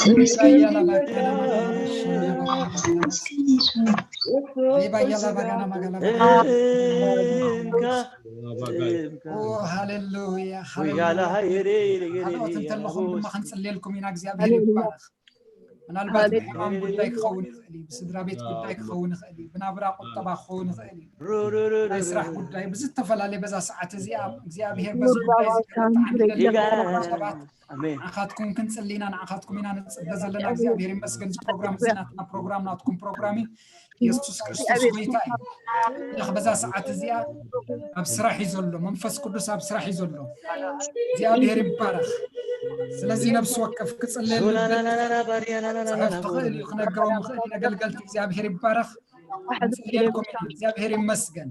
ተመስገን ሪባያ ላባ ካና ማጋ ላባ ሽንድያ ባጋ ላባ ጋና ተመስገን የሱስ ሪባያ ላባ ጋና ማጋ ላባ ጋና እንካ እምካ ኦ ሃሌሉያ ወያላ ሃሌሉያ ሃይሬ ካልኦት ነገሬ እንተለኹም ድማ ክንጽልየልኩም ኢና እግዚኣብሄር ይባረኽ ምናልባት ብሕማም ጉዳይ ክኸውን ይኽእል እዩ ብስድራ ቤት ጉዳይ ክኸውን ይኽእል እዩ ብናብራ ቁጠባ ክኸውን ይኽእል እዩ ናይ ስራሕ ጉዳይ ብዝተፈላለየ በዛ ሰዓት እዚኣ እግዚኣብሄር በዚ ጉዳይ እዚ ክረትዓንለለኹም ሰባት ንዓኻትኩም ክንፅሊ ኢና ንዓኻትኩም ኢና ንፅበ ዘለና እግዚኣብሔር ይመስገን እዚ ፕሮግራም እዚ ናትና ፕሮግራም ናትኩም ፕሮግራም እዩ የሱስ ክርስቶስ ጎይታ እዩ ኣምላኽ በዛ ሰዓት እዚኣ ኣብ ስራሕ እዩ ዘሎ መንፈስ ቅዱስ ኣብ ስራሕ እዩ ዘሎ እግዚኣብሔር ይባረኽ ስለዚ ነብሲ ወከፍ ክፅለየሉ ክፅሕፍ ትኽእል እዩ ክነገሮም ይኽእል ነገልገልቲ እግዚኣብሔር ይባረኽ ንፅልየልኩም ኢና እግዚኣብሔር ይመስገን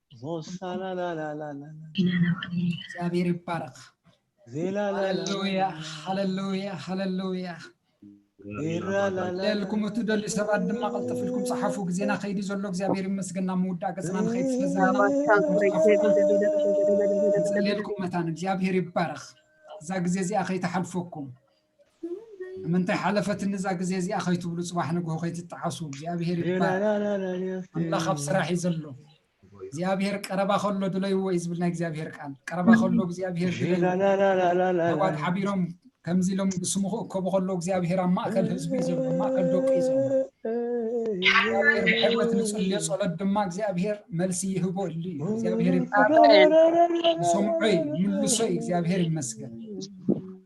እግዚኣብሔር ይባረክ ሃለሉያ ሃለሉያ ሃለሉያ ለልኩም እትደልዩ ሰባት ድማ ቀልጥፍልኩም ፀሓፉ ግዜና ከይዲ ዘሎ እግዚኣብሔር ይመስገና ምውዳእ ገፅና ንኸይድ ስለዘናፅልየልኩም መታን እግዚኣብሔር ይባረክ እዛ ግዜ እዚኣ ከይተሓልፈኩም ምንታይ ሓለፈትኒ እዛ ግዜ እዚኣ ከይትብሉ ጽባሕ ንግሆ ከይትጠዓሱ እግዚኣብሄር ይባረክ ኣምላኽ ኣብ ስራሕ እዩ ዘሎ እግዚኣብሄር ቀረባ ከሎ ድለይዎ እዩ ዝብል ናይ እግዚኣብሄር ቃል ቀረባ ከሎ እግዚኣብሄር ድለይዎባት ሓቢሮም ከምዚ ኢሎም ብስሙ ክእከቡ ከሎ እግዚኣብሄር ኣብ ማእከል ህዝቢ እዩ ዘሎ ማእከል ደቂ እዩ ዘሎ እግዚኣብሄር ብሕወት ንጽልዮ ጸሎት ድማ እግዚኣብሄር መልሲ ይህቦ እሉ እዩ እግዚኣብሄር ይሰምዖ እዩ ምልሶ እዩ እግዚኣብሄር ይመስገን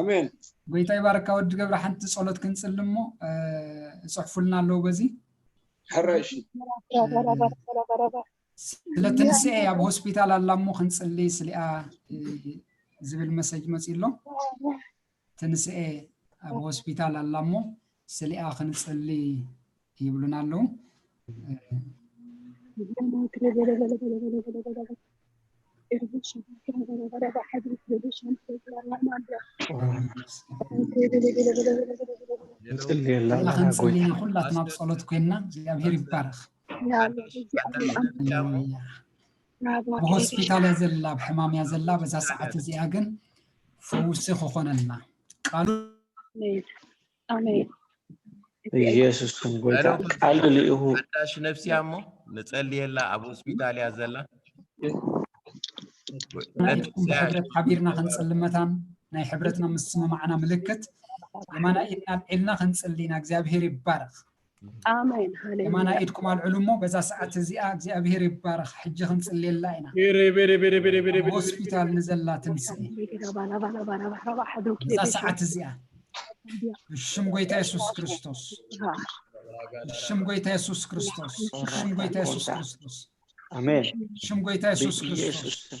ኣሜን ጎይታ ይባርካ ወዲ ገብረ ሓንቲ ጸሎት ክንጽሊ እሞ እጽሕፉልና ኣለዉ በዚ ሕራይ እሺ ስለ ትንስኤ ኣብ ሆስፒታል ኣላ እሞ ክንጽሊ ስሊኣ እ፣ ዝብል መሰጅ መጺኡ ኣሎ ትንስኤ ኣብ ሆስፒታል ኣላ እሞ ስሊኣ ክንጽሊ ይብሉና ኣለዉ ንጽልየላ ስሊኣ ኢና ክንጽሊ ጎይታ ኢና ኩላትና ኣብ ጸሎት ኮይንና እግዚኣብሄር ይባረኽ ሃሌሉያ ኣብ ሆስፒታል እያ ዘላ ኣብ ሕማም እያ ዘላ በዛ ሰዓት እዚኣ ግን ፈውሲ ክኾነልና ቃሉ ኣሜን ኢየሱስ ስም ጎይታ ቃል ልኢኹ ሓዳሽ ነፍሲያ እሞ ንጸልየላ ኣብ ሆስፒታል እያ ዘላ ናይኩም ብሕብረት ሓቢርና ክንጽልም መታን ናይ ሕብረትና ምስምማዕና ምልክት የማና ኢድና ኣብዒልና ክንጽሊ ኢና እግዚኣብሄር ይባረኽ ኣሜን ሃሌሉያ የማናይ ኢድኩም ኣልዕሉ እሞ በዛ ሰዓት እዚኣ እግዚኣብሄር ይባረኽ ሕጂ ክንጽልየላ ኢና ቤሬ ቤሬ ቤሬ ቤሬ ቤሬ ኣብ ቤሬ ሆስፒታል ንዘላ ትንስኤ በዛ ሰዓት እዚኣ ብሽም ጎይታ የሱስ ክርስቶስ ብሽም ጎይታ የሱስ ክርስቶስ ብሽም ጎይታ የሱስ ክርስቶስ ኣሜን ብሽም ጎይታ የሱስ ክርስቶስ ብኢየሱስ ስም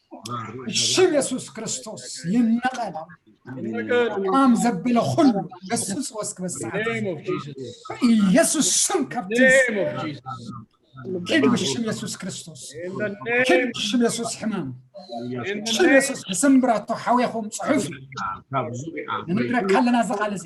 ሽም የሱስ ክርስቶስ ይነቐል ኣም ዘበለ ኩሉ ገስጽ ወስክ በሰዓት ኢየሱስ ስም ካብቲ ኪድ ብሽም የሱስ ክርስቶስ ኪድ ብሽም የሱስ ሕማም ሽም የሱስ ብስምብራቶ ሓዊኹም ጽሑፍ እዩ ንምድረካ ኣለና እዚ ቃል እዚ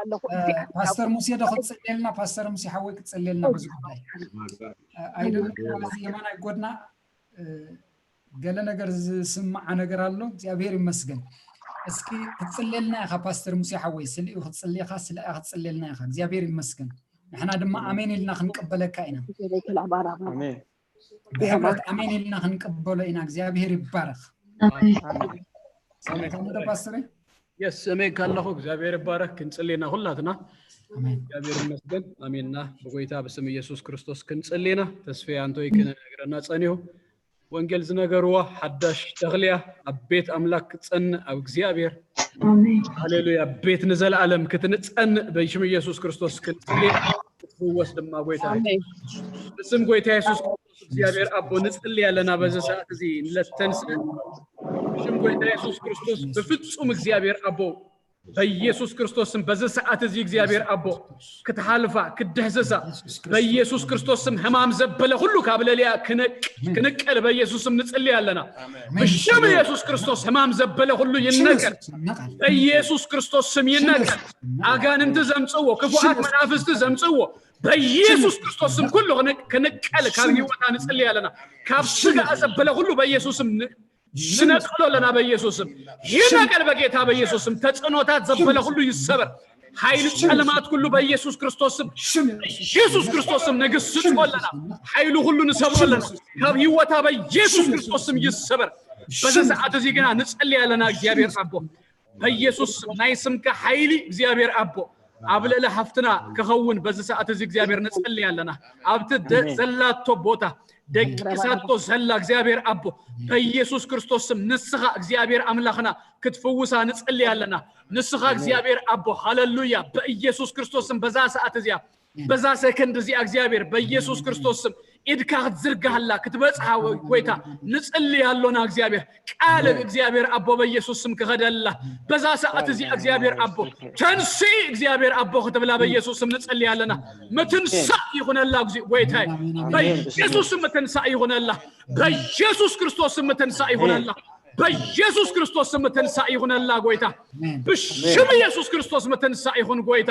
ኣለኹ ፓስተር ሙሴ ዶ ክትፅልየልና ፓስተር ሙሴ ሓወይ ክትፅልየልና በዚ ጉዳይ ኣይደለ የማናይ ጎድና ገለ ነገር ዝስምዓ ነገር ኣሎ እግዚኣብሔር ይመስገን እስኪ ክትፅልየልና ኢኻ ፓስተር ሙሴ ሓወይ ስልኡ ክትፅልየኻ ስለኣ ክትፅልየልና ኢኻ እግዚኣብሔር ይመስገን ንሕና ድማ ኣሜን ኢልና ክንቀበለካ ኢና ብሕብረት ኣሜን ኢልና ክንቀበሎ ኢና እግዚኣብሄር ይባረኽ ሰላም ተምዶ ፓስተር የስ እመይ ካለኹ እግዚኣብሔር ይባረክ ክንፅሊ ኢና ኩላትና ኣሜን እግዚኣብሔር ይመስገን ኣሜንና ብጎይታ ብስም ኢየሱስ ክርስቶስ ክንፅሊ ኢና ተስፌ ኣንቶይ ክነግረና ፀኒሁ ወንጌል ዝነገርዋ ሓዳሽ ተኽልያ ኣብ ቤት ኣምላክ ክትፀንእ ኣብ እግዚኣብሔር ሃሌሉያ ቤት ንዘለኣለም ክትንፀንእ በሽም ኢየሱስ ክርስቶስ ክንፅሊ ኢና። ክትፍወስ ድማ ጎይታ ኣሜን ብስም ጎይታ የሱስ ክርስቶስ እግዚኣብሔር ኣቦ ንጽሊ ኣለና በዚ ሰዓት እዚ ንለተንስ ብሽም ጎይታ የሱስ ክርስቶስ ብፍጹም እግዚኣብሔር ኣቦ በኢየሱስ ክርስቶስ ስም በዚ ሰዓት እዚ እግዚኣብሔር ኣቦ ክትሃልፋ ክድህስሳ በኢየሱስ ክርስቶስ ስም ሕማም ዘበለ ሁሉ ካብ ለልያ ክነቅ- ክንቀል በኢየሱስ ስም ንጽሊ ኣለና ብሽም ኢየሱስ ክርስቶስ ሕማም ዘበለ ሁሉ ይነቀል በኢየሱስ ክርስቶስ ስም ይነቀል ኣጋንንቲ ዘምፅዎ ክፉኣት መናፍስቲ ዘምፅዎ በኢየሱስ ክርስቶስ ስም ኩሉ ክንቀል ካብ ህይወታ ንፅልይ ኣለና ካብ ስጋ ዘበለ ኩሉ በኢየሱስ ስም ንነቅሎ ኣለና በኢየሱስ ስም ይነቀል በጌታ በኢየሱስ ስም ተፅዕኖታት ዘበለ ኩሉ ይሰበር ኃይል ጨለማት ሁሉ በኢየሱስ ክርስቶስ ስም ኢየሱስ ክርስቶስ ስም ንግስጾ ኣለና ኃይሉ ሁሉ ንሰብሮ ኣለና ካብ ህይወታ በኢየሱስ ክርስቶስ ስም ይሰበር በዚ ሰዓት እዚ ግና ንጸልይ ኣለና እግዚኣብሔር ኣቦ በኢየሱስ ስም ናይ ስምካ ሓይሊ እግዚኣብሔር ኣቦ ኣብ ልዕሊ ሃፍትና ከኸውን በዚ ሰዓት እዚ እግዚኣብሔር ንጸልይ ኣለና ኣብቲ ደ- ኣሜን። ዘላቶ ቦታ ደቂሳቶ ዘላ እግዚኣብሔር ኣቦ በኢየሱስ ክርስቶስ ስም ንስኻ እግዚኣብሔር ኣምላኽና ክትፍውሳ ንጸልይ ኣለና ንስኻ እግዚኣብሔር ኣቦ ሃለሉያ በኢየሱስ ክርስቶስ ስም በዛ ሰዓት እዚኣ በዛ ሰከንድ እዚኣ እግዚኣብሔር በኢየሱስ ክርስቶስ ስም ኢድካ ክትዝርጋሃላ ክትበጽሃ ጎይታ ንጽልይ ኣሎና እግዚኣብሔር ቃል እግዚኣብሔር ኣቦ በኢየሱስ ስም ክኸደላ በዛ ሰዓት እዚኣ እግዚኣብሔር ኣቦ ተንሲ እግዚኣብሔር ኣቦ ክትብላ በኢየሱስ ስም ንጽልይ ኣለና ምትንሳእ ይኹነላ እግዚኦ ጎይታይ በኢየሱስ ስም ምትንሳእ ይኹነላ በኢየሱስ ክርስቶስ ስም ምትንሳእ ይኹነላ በኢየሱስ ክርስቶስ ስም ትንሳእ ይኹነላ ጎይታ ብሽም ኢየሱስ ክርስቶስ ምትንሳእ ይኹን ጎይታ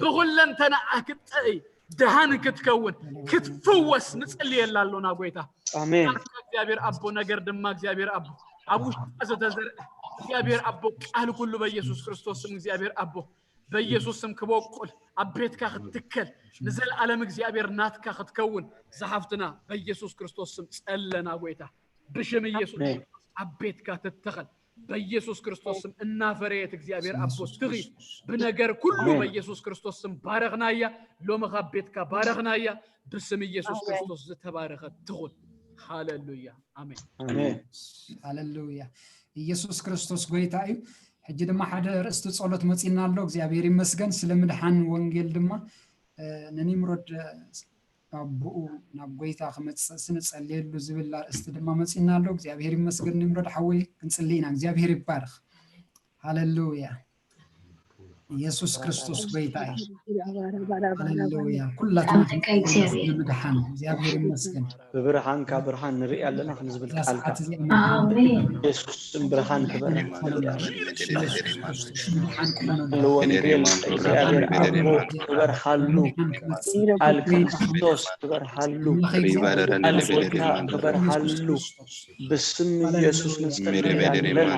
ብኹለንተናኣ ክትጥዕይ ድሃን ክትከውን ክትፍወስ ንጽልየላ ኣሎና ጎይታ ኣሜን ቃልካ እግዚኣብሔር ኣቦ ነገር ድማ እግዚኣብሔር ኣቦ ኣብ ውሽጣ ዘተዘርአ እግዚኣብሔር ኣቦ ቃል ኩሉ በኢየሱስ ክርስቶስ ስም እግዚኣብሔር ኣቦ በኢየሱስ ስም ክበቁል ኣብ ቤትካ ክትትከል ንዘለዓለም እግዚኣብሔር ናትካ ክትከውን ዝሓፍትና በኢየሱስ ክርስቶስ ስም ጸለና ጎይታ ብሽም ኢየሱስ ኣሜን ኣብ ቤትካ ትተኸል በኢየሱስ ክርስቶስ ስም እናፈረየት እግዚኣብሔር ስም ኣቦ ኢየሱስ ትኺ ክርስቶስ ብነገር ኩሉ ኣሜን። በኢየሱስ ክርስቶስ ስም ባረኽናያ ሎሚ ካብ ቤትካ ባረኽናያ ብስም ኢየሱስ ኣሜን። ክርስቶስ ዝተባረኸት ትኹን ሃሌሉያ ኣሜን ኣሜን ሃሌሉያ ኢየሱስ ክርስቶስ ጎይታ እዩ ሕጂ ድማ ሓደ ርእስቲ ጸሎት መፂና ኣሎ እግዚኣብሔር ይመስገን ስለ ምድሓን ወንጌል ድማ እ፣ ንኒምሮድ እ፣ ካቡኡ ናብ ጎይታ ክመጽእ ስንጸልየሉ ዝብል ኣርእስቲ ድማ መጺና ኣሎ እግዚኣብሔር ይመስገን ንምረድ ሓወይ ክንጽሊ ኢና እግዚኣብሔር ይባርኽ ሃለሉያ ኢየሱስ ክርስቶስ ጎይታ እዩ። ሃሌሉያ ኩላትና ንምድሓን እግዚኣብሔር ይመስገን ብብርሃንካ ብርሃን ንርኢ ኣለና ክንዝብል ቃልካ ኢየሱስ ስም ብርሃን ክበረን ወንጌል እግዚኣብሔር ኣቦ ክበርሃሉ ቃል ክርስቶስ ክበርሃሉ ቃል ጌታ ክበርሃሉ ብስም ኢየሱስ ንጸልይ ኣለና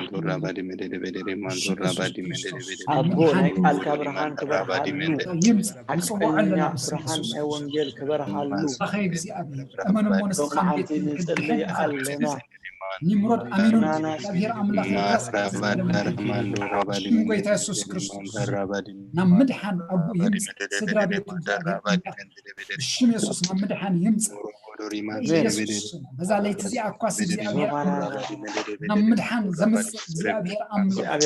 ኣቦ ናይ ቃልካ ብርሃን ክበርሃሉ ሓቀኛ ብርሃን ናይ ወንጌል ክበርሃሉ ሎመዓንቲ ንጸልይ ኣለና ኒምሮድ ኣሚኑን እግዚኣብሔር ኣምላኽ ሽም ጎይታ የሱስ ክርስቶስ ናብ ምድሓን ኣቦ ይምጻእ ስድራ ቤት ብሽም የሱስ ናብ ምድሓን ይምጻእ በዛ ለይቲ እዚኣ እኳስ እግዚኣብሔር ናብ ምድሓን ዘምጽእ እግዚኣብሔር ኣምላኽ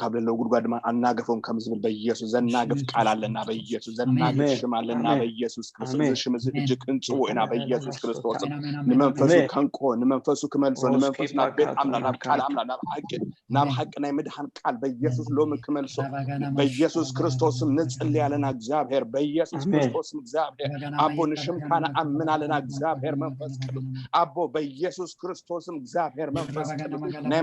ካብ ለለው ጉድጓድ ድማ ኣናገፎም ከም ዝብል በኢየሱስ ዘናግፍ ቃል ኣለና በኢየሱስ ዘናግፍ ሽም ኣለና በኢየሱስ ክርስቶስ እዚ ሽም እዚ ሕጂ ክንጽዎ ኢና በኢየሱስ ክርስቶስ ንመንፈሱ ከንቆ ንመንፈሱ ክመልሶ ንመንፈሱ ናብ ቤት ኣምላኽ ናብ ቃል ኣምላኽ ናብ ሓቂ ናብ ሓቂ ናይ ምድሓን ቃል በኢየሱስ ሎሚ ክመልሶ በኢየሱስ ክርስቶስም ንጽሊ ኣለና እግዚኣብሔር በኢየሱስ ክርስቶስም እግዚኣብሔር ኣቦ ንሽምካ ንኣምን ኣለና እግዚኣብሔር መንፈስ ቅዱስ ኣቦ በኢየሱስ ክርስቶስም እግዚኣብሔር መንፈስ ቅዱስ ናይ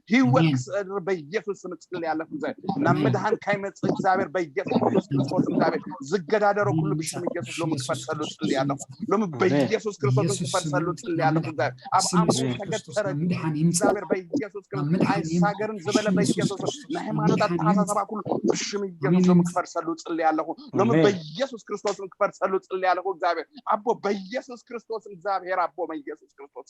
ህይወት ክስዕር በኢየሱስ ስም ጽል ያለፍ ዘ ናብ ምድሃን ካይመጽ እግዚኣብሔር በኢየሱስ ክርስቶስ ክርስቶስ እግዚኣብሔር ዝገዳደሮ ኩሉ ብሽም ኢየሱስ ሎሚ ክፈርሰሉ ጽል ያለኹ ሎሚ በኢየሱስ ክርስቶስ ክፈርሰሉ ጽል ያለኹ እግዚኣብሔር ኣብ ኣምሩ ተገተረ እግዚኣብሔር በኢየሱስ ክርስቶስ ኣይሳገርን ዝበለ በኢየሱስ ንሃይማኖት ኣተሓሳሰባ ኩሉ ብሽም ኢየሱስ ሎሚ ክፈርሰሉ ጽል ያለኹ ሎሚ በኢየሱስ ክርስቶስን ክፈርሰሉ ጽል ያለኹ እግዚኣብሔር ኣቦ በኢየሱስ ክርስቶስ እግዚኣብሔር ኣቦ በኢየሱስ ክርስቶስ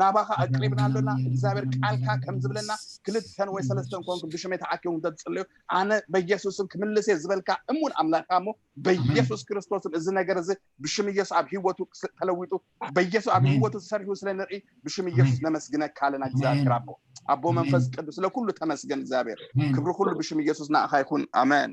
ናባኻ ኣቅሪብና ኣሎና እግዚኣብሔር ቃልካ ከም ዝብለና ክልተን ወይ ሰለስተን ኮንኩም ብሽመይ ተኣኪቦም እንተ ትጽልዩ ኣነ በኢየሱስም ክምልስ እየ ዝበልካ እሙን ኣምላካ እሞ በኢየሱስ ክርስቶስም እዚ ነገር እዚ ብሽም ኢየሱስ ኣብ ህይወቱ ተለዊጡ በኢየሱስ ኣብ ህይወቱ ተሰሪሑ ስለ ንርኢ ብሽም ኢየሱስ ነመስግነካ ኣለና እግዚኣብሔር ኣቦ ኣቦ መንፈስ ቅዱስ ስለ ኩሉ ተመስገን እግዚኣብሔር ክብሪ ኩሉ ብሽም ኢየሱስ ንኣኻ ይኹን ኣሜን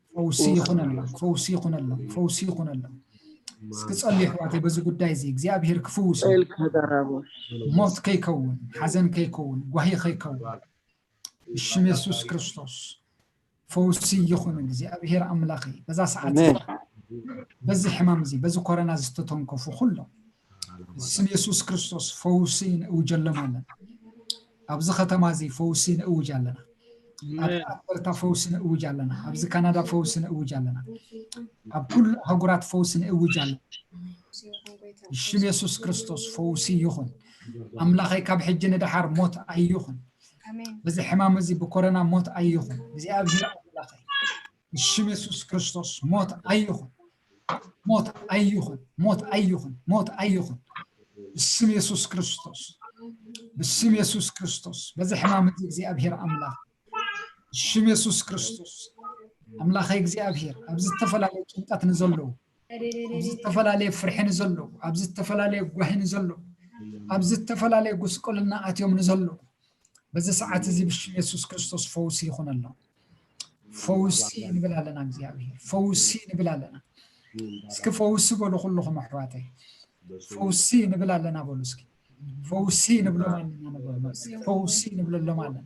ፈውሲ ይኹነሎም ፈውሲ ይኹነሎም ፈውሲ ይኹነሎም እስኪ ጸልዩ ኣሕዋተይ በዚ ጉዳይ እዚ እግዚኣብሄር ክፍውሱ ኢልካ ደራቦ ሞት ከይከውን ሓዘን ከይከውን ጓሂ ከይከውን ብሽም የሱስ ክርስቶስ ፈውሲ ይኹን እግዚኣብሄር ኣምላኸይ በዛ ሰዓት እዚኣ፣ በዚ ሕማም እዚ በዚ ኮረና ዝተተንከፉ ኩሎም ስም የሱስ ክርስቶስ ፈውሲ ንእውጀሎም ኣለና ኣብዚ ከተማ እዚ ፈውሲ ንእውጅ ኣለና ኣብ ኣልበርታ ፈውሲ ንእውጅ ኣለና ኣብዚ ካናዳ ፈውሲ ንእውጅ ኣለና ኣብ ኩሉ ኣህጉራት ፈውሲ ንእውጅ ኣለና ሽም የሱስ ክርስቶስ ፈውሲ ይኹን ኣምላኸይ ካብ ሕጂ ንደሓር ሞት ኣይኹን በዚ ሕማም እዚ ብኮረና ሞት ኣይኹን እግዚኣብሄር ኣምላኸይ ብሽም የሱስ ክርስቶስ ሞት ኣይኹን፣ ሞት ኣይኹን፣ ሞት ኣይኹን፣ ሞት ኣይኹን። ብስም የሱስ ክርስቶስ፣ ብስም የሱስ ክርስቶስ፣ በዚ ሕማም እዚ እግዚኣብሄር ኣምላኽ፣ ብሽም የሱስ ክርስቶስ፣ ኣምላኸይ እግዚኣብሄር፣ ኣብ ዝተፈላለዩ ጭንቀት ንዘለዉ፣ ኣብ ዝተፈላለየ ፍርሒ ንዘለዉ፣ ኣብ ዝተፈላለየ ጓሂ ንዘለዉ፣ ኣብ ዝተፈላለየ ጉስቁልና ኣትዮም ንዘለዉ በዚ ሰዓት እዚ ብሽም የሱስ ክርስቶስ ፈውሲ ይኹነሎም። ፈውሲ ንብል ኣለና እግዚኣብሄር፣ ፈውሲ ንብል ኣለና። እስኪ ፈውሲ በሉ ኩልኹም ኣሕዋተይ፣ ፈውሲ ንብል ኣለና በሉ እስኪ። ፈውሲ ንብሎም ኣለና ንበሉ፣ ፈውሲ ንብለሎም ኣለና።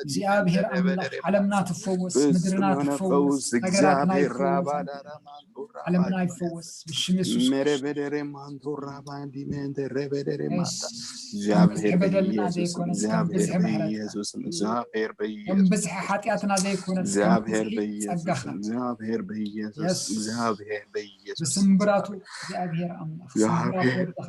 እግዚኣብሔር ኣምላኽ ዓለምና ትፈወስ፣ ምድርና ትፈወስ፣ ሃገራትና ይፈወስ፣ ዓለምና ይፈወስ ብሽም የሱስ ብዝሒ በደልና ዘይኮነስ ከም ብዝሒ ምሕረትካከም ብዝሒ ሓጢኣትና ዘይኮነስ ጸጋኻ ብስምብራቱ እግዚኣብሔር ኣምላኽ ስምብራት ወድኻ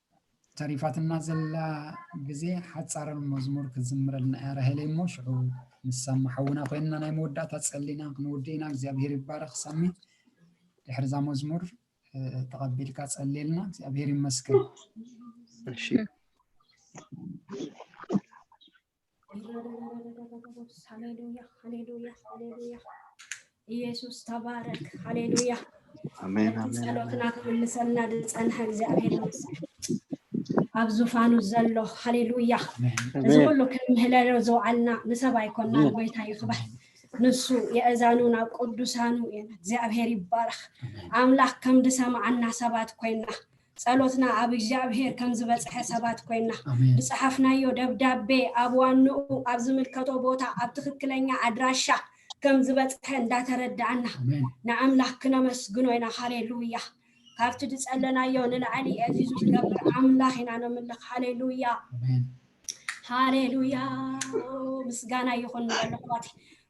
ተሪፋትና ዘላ ግዜ ሓጻር መዝሙር ክትዝምረልና እያ ራሄለይ እሞ ሽዑ ምስ ሳሚ ሓውና ኮይንና ናይ መወዳእታ ጸሊና ክንውድእ ኢና እግዚኣብሄር ይባረኽ ሳሚ ድሕሪ እዛ መዝሙር ተቐቢልካ ጸልየልና እግዚኣብሄር ይመስገን እሺ ሃሌሉያ ሃሌሉያ ሃሌሉያ ኢየሱስ ተባረክ ሃሌሉያ ኣሜን ነቲ ኣሜን ጸሎትና ክምልሰልና ዝጸንሐ እግዚኣብሔር ይመስገን ኣብ ዙፋኑ ዘሎ ሃሌሉያ እዚ ኣሜን ኩሉ ክንምህለሎ ዝውዓልና ንሰብ ኣይኮናን ጎይታ ይኽበር ንሱ የእዛኑ ናብ ቅዱሳኑ እዮም እግዚኣብሔር ይባረኽ ኣምላኽ ከም ዝሰማዓና ሰባት ኮይና ጸሎትና ኣብ እግዚኣብሔር ከም ዝበጽሐ ሰባት ኮይና ብጸሓፍናዮ ደብዳቤ ኣብ ዋንኡ ኣብ ዝምልከቶ ቦታ ኣብ ትክክለኛ ኣድራሻ ከም ዝበጽሐ እንዳተረዳእና ንኣምላኽ ክነመስግኖ ኢና ሃሌሉያ ካብቲ ድጸለናዮ ንላዕሊ ኤፊዙ ዝገብር ኣምላኽ ኢና ነምልኽ ሃሌሉያ ሃሌሉያ ምስጋና ይኹን ንበለኹባት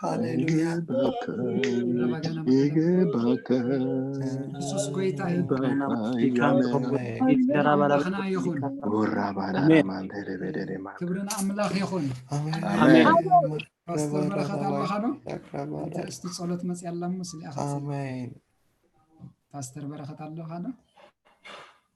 ሃሌሉያ ይግባከ ኢየሱስ ጎይታ እዩ ኣምላኽና ይኹን ወራባራማንደደበደማ ክብሪ ንኣምላኽ ይኹን ኣሜን ፓስተር በረኸት ኣለኻ ዶ እታ እስቲ ጸሎት መፅያ ኣላ እሞ ስሊኣኻ ኣሜን ፓስተር በረኸት ኣለኻ ዶ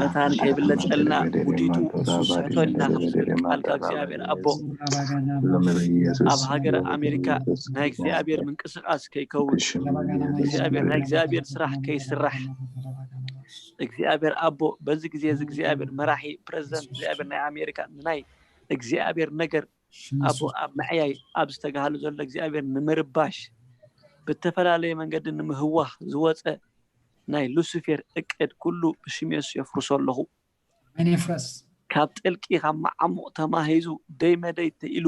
መታን ከይብለጸልና ውዲቱ ንሱ ዝስሕቶ ኣልና ክትብል ቃል ካብ እግዚኣብሔር ኣቦ ኣብ ሃገረ ኣሜሪካ ናይ እግዚኣብሔር ምንቅስቃስ ከይከውን እግዚኣብሔር ናይ እግዚኣብሔር ስራሕ ከይስራሕ እግዚኣብሔር ኣቦ በዚ ግዜ እዚ እግዚኣብሔር መራሒ ፕረዚደንት እግዚኣብሔር ናይ ኣሜሪካ ንናይ እግዚኣብሔር ነገር ኣብኡ ኣብ ምዕያይ ኣብ ዝተጋህሉ ዘሎ እግዚኣብሔር ንምርባሽ ብእተፈላለየ መንገዲ ንምህዋኽ ዝወጸ ናይ ሉሲፌር እቅድ ኩሉ ብሽም የሱስ የፍርሶ ኣለኹ። ኣሜን ይፍረስ። ካብ ጥልቂ ካብ መዓሙቕ ተማሂዙ ደይ መደይ ተኢሉ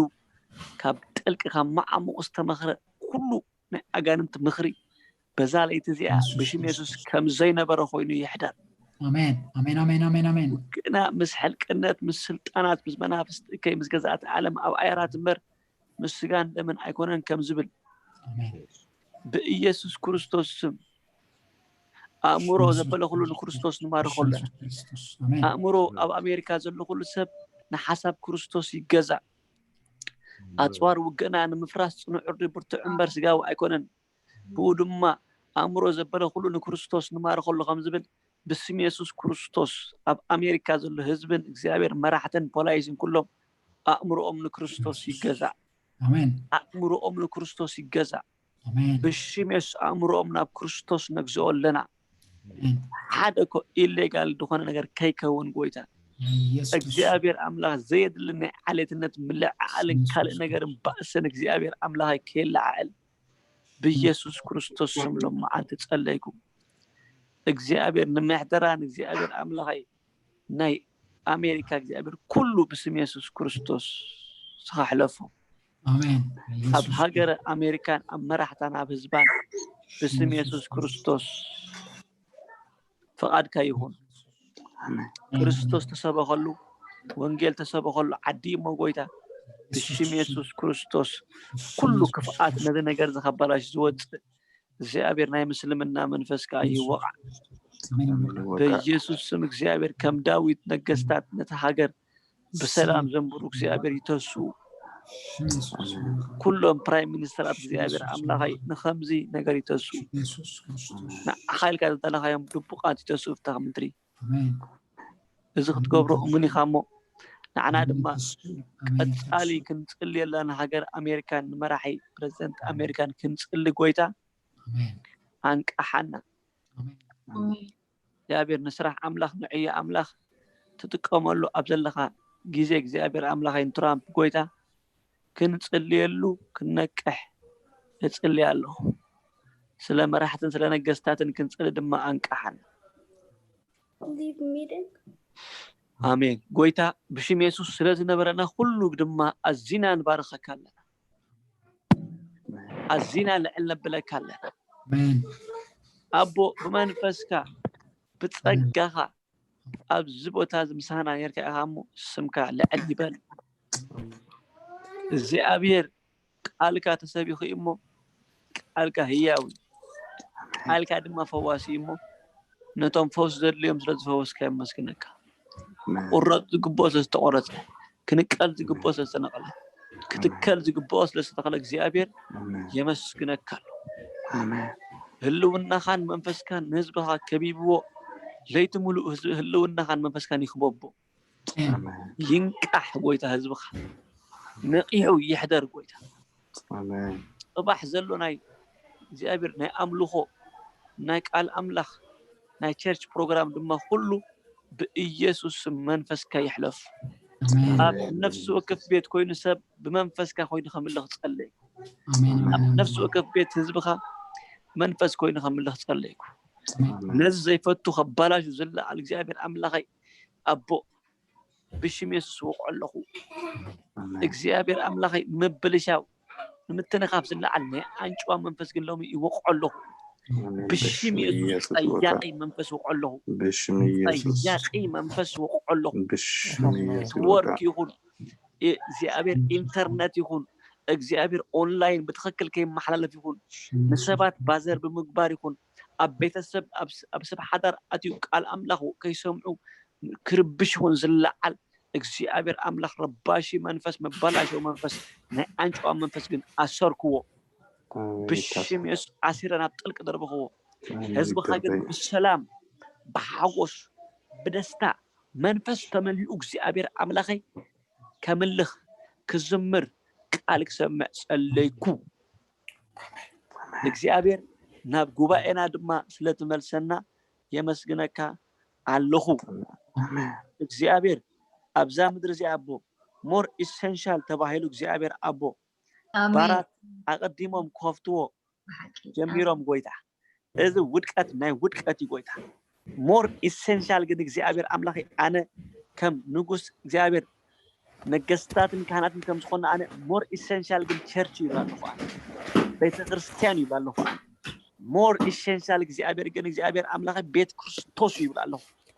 ካብ ጥልቂ ካብ መዓሙቕ ዝተመኽረ ኩሉ ናይ ኣጋንንቲ ምኽሪ በዛ ለይቲ እዚኣ ብሽም የሱስ ከም ዘይነበረ ኮይኑ ይሕደር ግና ምስ ሕልቅነት ምስ ስልጣናት ምስ መናፍስቲ እከይ ምስ ገዛእቲ ዓለም ኣብ ኣየራት እምበር ምስ ስጋን ደምን ኣይኮነን ከም ዝብል ብኢየሱስ ክርስቶስ ስም ኣእምሮ ዘበለ ኩሉ ንክርስቶስ ንማርኾ ኣለና ኣእምሮ ኣብ ኣሜሪካ ዘሎ ኩሉ ሰብ ንሓሳብ ክርስቶስ ይገዛእ ኣጽዋር ውግእና ንምፍራስ ጽኑዕ እርዲ ብርቱዕ እምበር ስጋዊ ኣይኮነን፣ ብኡ ድማ ኣእምሮ ዘበለ ኩሉ ንክርስቶስ ንማርኸሉ ከም ዝብል ብስም የሱስ ክርስቶስ ኣብ ኣሜሪካ ዘሎ ህዝብን እግዚኣብሔር መራሕትን ፖላይስን ኩሎም ኣእምሮኦም ንክርስቶስ ይገዛእ። ኣሜን። ኣእምሮኦም ንክርስቶስ ይገዛእ። ብሽም የሱስ ኣእምሮኦም ናብ ክርስቶስ ነግዝኦ ኣለና ሓደ እኮ ኢሌጋል ዝኾነ ነገር ከይከውን ጎይታ እግዚኣብሔር ኣምላኽ ዘየድሊ ናይ ዓሌትነት ምልዕዓልን ካልእ ነገርን ባእስን እግዚኣብሔር ኣምላኸይ ከየለዓዕል ብኢየሱስ ክርስቶስ ስም ሎም መዓልቲ ጸለይኩ እግዚኣብሔር ንምሕደራን እግዚኣብሔር ኣምላኸይ ናይ ኣሜሪካ እግዚኣብሔር ኩሉ ብስም የሱስ ክርስቶስ ስኻሕለፎ ኣብ ሃገረ ኣሜሪካን ኣብ መራሕታን ኣብ ህዝባን ብስም የሱስ ክርስቶስ ፍቓድካ ይኹን ክርስቶስ ተሰበኸሉ ወንጌል ተሰበኸሉ ዓዲ እሞ ጎይታ ብሽም የሱስ ክርስቶስ ኩሉ ክፍኣት ነዚ ነገር ዝኸበላሽ ዝወፅእ እግዚኣብሔር ናይ ምስልምና መንፈስ ከዓ ይወቃዕ በኢየሱስ ስም እግዚኣብሔር ከም ዳዊት ነገስታት ነቲ ሃገር ብሰላም ዘንብሩ እግዚኣብሔር ይተሱ ኩሎም ፕራይም ሚኒስተር ኣብ እግዚኣብሔር ኣምላኸይ ንከምዚ ነገር ይተሱ ንዓኻ ኢልካ ዘዳለኻዮም ድቡቃት ይተሱ ፍታኽ ምድሪ እዚ ክትገብሮ እሙን ኢኻ እሞ ንዓና ድማ ቀፃሊ ክንፅልየላ ንሃገር ኣሜሪካን ንመራሒ ፕረዚደንት ኣሜሪካን ክንፅሊ ጎይታ ኣንቃሓና እግዚኣብሔር ንስራሕ ኣምላኽ ንዕዮ ኣምላኽ ትጥቀመሉ ኣብ ዘለኻ ግዜ እግዚኣብሔር ኣምላኸይ ንትራምፕ ጎይታ ክንጽልየሉ ክንነቅሕ እጽሊ ኣለኹ ስለ መራሕትን ስለ ነገስታትን ክንጽሊ ድማ ኣንቃሓና ኣሜን ጎይታ ብሽም የሱስ ስለ ዝነበረና ኩሉ ድማ ኣዚና ንባርኸካ ኣለና ኣዚና ልዕል ነብለካ ኣለና ኣቦ ብመንፈስካ ብጸጋኻ ኣብዚ ቦታ እዚ ምሳና ጌርካ ኢኻ እሞ ስምካ ልዕል ይበል እግዚኣብሔር ቃልካ ተሰቢኹ እሞ ቃልካ ህያው እዩ፣ ሓይልካ ድማ ፈዋሲ እዩ እሞ፣ ነቶም ፈውሲ ዘድልዮም ስለ ዝፈወስካ የመስግነካ። ክቑረጽ ዝግብኦ ስለ ዝተቖረጸ፣ ክንቀል ዝግብኦ ስለ ዝተነቕለ፣ ክትከል ዝግብኦ ስለ ዝተተኽለ እግዚኣብሄር የመስግነካ ኣሎ። ህልውናኻን መንፈስካን ንህዝብኻ ከቢብዎ፣ ለይቲ ምሉእ ህልውናኻን መንፈስካን ይኽበቦ። ይንቃሕ ጎይታ ህዝብኻ ነቂሑ ይሕደር ጎይታ ፅባሕ ዘሎ ናይ እግዚኣብሔር ናይ ኣምልኾ ናይ ቃል ኣምላኽ ናይ ቸርች ፕሮግራም ድማ ኩሉ ብኢየሱስ ስም መንፈስካ ይሕለፍ ኣብ ነፍሲ ወከፍ ቤት ኮይኑ ሰብ ብመንፈስካ ኮይኑ ከምልኽ ጸለይኩ ኣብ ነፍሲ ወከፍ ቤት ህዝብኻ መንፈስ ኮይኑ ከምልኽ ጸለይኩ ነዚ ዘይፈቱ ከባላሹ ዝለዓል እግዚኣብሔር ኣምላኸይ ኣቦ ብሽም የሱስ እወቕዖ ኣለኹ እግዚኣብሔር ኣምላኸይ ምብልሻው ንምትንኻፍ ዝለዓል ናይ ኣንጭዋ መንፈስ ግን ሎሚ ይወቕዖ ኣለኹ ብሽም የሱስ ጠያቂ መንፈስ ወቕዖ ኣለኹ ጠያቂ መንፈስ ወቕዖ ኣለኹ ኔትወርክ ይኹን እግዚኣብሔር ኢንተርነት ይኹን እግዚኣብሔር ኦንላይን ብትክክል ከይመሓላለፍ ይኹን ንሰባት ባዘር ብምግባር ይኹን ኣብ ቤተሰብ ኣብ ሰብ ሓዳር ኣትዩ ቃል ኣምላኽ ከይሰምዑ ክርብሽ ይኹን ዝለዓል እግዚኣብሔር ኣምላኽ ረባሺ መንፈስ መባላሸዊ መንፈስ ናይ ኣንጨዋ መንፈስ ግን ኣሰርክዎ ብሽም የሱስ ዓሲረ ናብ ጥልቂ ደርብኽዎ ህዝብኻ ግን ብሰላም ብሓጎስ ብደስታ መንፈስ ተመሊኡ እግዚኣብሔር ኣምላኸይ ከምልኽ ክዝምር ቃል ክሰምዕ ጸለይኩ ንእግዚኣብሔር ናብ ጉባኤና ድማ ስለትመልሰና የመስግነካ ኣለኹ እግዚኣብሔር ኣብዛ ምድሪ እዚኣ ኣቦ ሞር ኢሰንሻል ተባሂሉ እግዚኣብሔር ኣቦ ባራት ኣቐዲሞም ክኸፍትዎ ጀሚሮም ጎይታ እዚ ውድቀት ናይ ውድቀት እዩ ጎይታ more essential ግን እግዚኣብሔር ኣምላከይ ኣነ ከም ንጉስ እግዚኣብሔር ነገስታትን ካህናትን ከም ዝኮና ኣነ more essential ግን ቸርች እዩ ይብላ ኣለኹ ኣነ ቤተክርስትያን ይብላ ኣለኹ ኣነ more essential እግዚኣብሔር ግን እግዚኣብሔር ኣምላከይ ቤት ክርስቶስ እዩ ይብላ ኣለኹ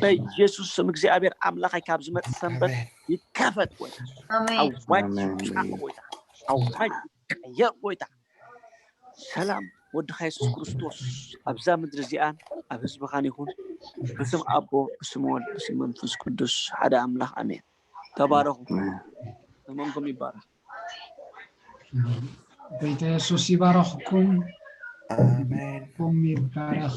በኢየሱስ ስም እግዚኣብሔር ኣምላኽ ካብ ዝመጽእ ሰንበት ይከፈት ጎይታ ኣዋጅ ይውጻእ ጎይታ ኣዋጅ ይቀየር ጎይታ ሰላም ወድኻ የሱስ ክርስቶስ ኣብዛ ምድሪ እዚኣን ኣብ ህዝብኻን ይኹን ብስም ኣቦ ብስም ወልድ ብስም መንፈስ ቅዱስ ሓደ ኣምላኽ ኣሜን ተባረኹ ዘመንኩም ይባረኽ ጎይታ የሱስ ይባረኽኩም ኣሜን ይባረኽ